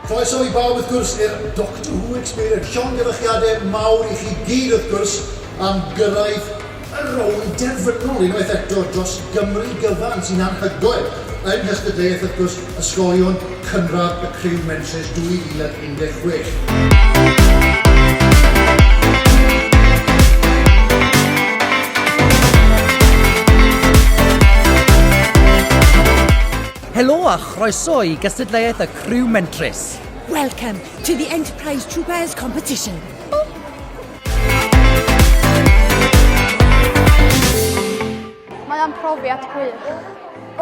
Croeso i bawb wrth gwrs i'r Doctor Who Experience. Llongyfarchiadau mawr i chi gyd wrth gwrs am gyrraedd y rownd derfynol unwaith eto dros Gymru gyfan sy'n anhygoel yng Nghystadleuaeth wrth gwrs Ysgolion Cynradd y Criw Mentrus 2016. Helo a chroeso i gystadleuaeth y Criw Mentrus. Welcome to the Enterprise Troopers Competition. Mae o'n profiad gwych.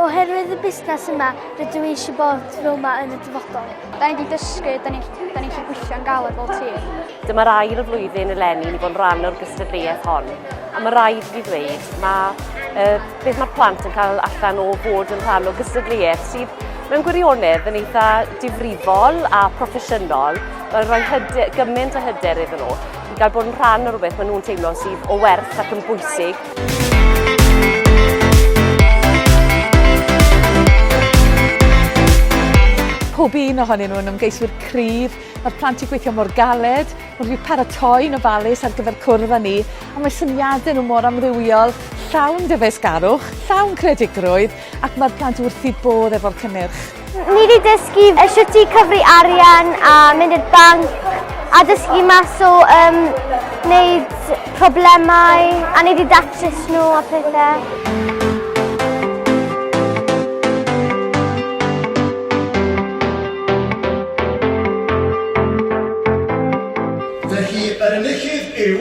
Oherwydd y busnes yma, rydw i eisiau bod fel yma yn y dyfodol. Da ni wedi dysgu, da ni'n da ni gallu gweithio'n galed fel tîm. Dyma'r ail flwyddyn eleni i ni fod yn rhan o'r gystadleuaeth hon. A mae rhaid i fi ddweud, mae uh, beth mae'r plant yn cael allan o fod yn rhan o gystadleuaeth sydd mewn gwirionedd yn eitha difrifol a proffesiynol, mae'n rhoi hyder, gymaint o hyder iddyn nhw i gael bod yn rhan o rhywbeth maen nhw'n teimlo sydd o werth ac yn bwysig pob un ohonyn nhw'n ymgeiswyr cryf. Mae'r plant i gweithio mor galed, mae rhyw paratoi yn ofalus ar gyfer cwrdd â ni, a mae syniadau nhw mor amrywiol, llawn dyfeisgarwch, llawn credigrwydd, ac mae'r plant wrth i bodd efo'r cynnyrch. Ni wedi dysgu e, sut i cyfri arian a mynd i'r banc a dysgu mas o um, wneud problemau a ni wedi datrys nhw a pethau. Felly, yr enillydd yw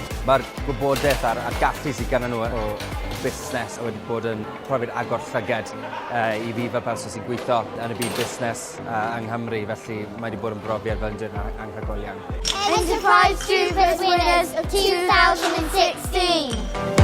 Mae'r gwybodaeth a'r, a'r gallu sydd gyda nhw o busnes a wedi bod yn profiad agor llyged uh, i fi fel person sy'n gweithio yn y byd busnes uh, yng Nghymru, felly mae wedi bod yn brofiad fel yn dweud anghygol iawn. Enterprise Troopers winners of 2016!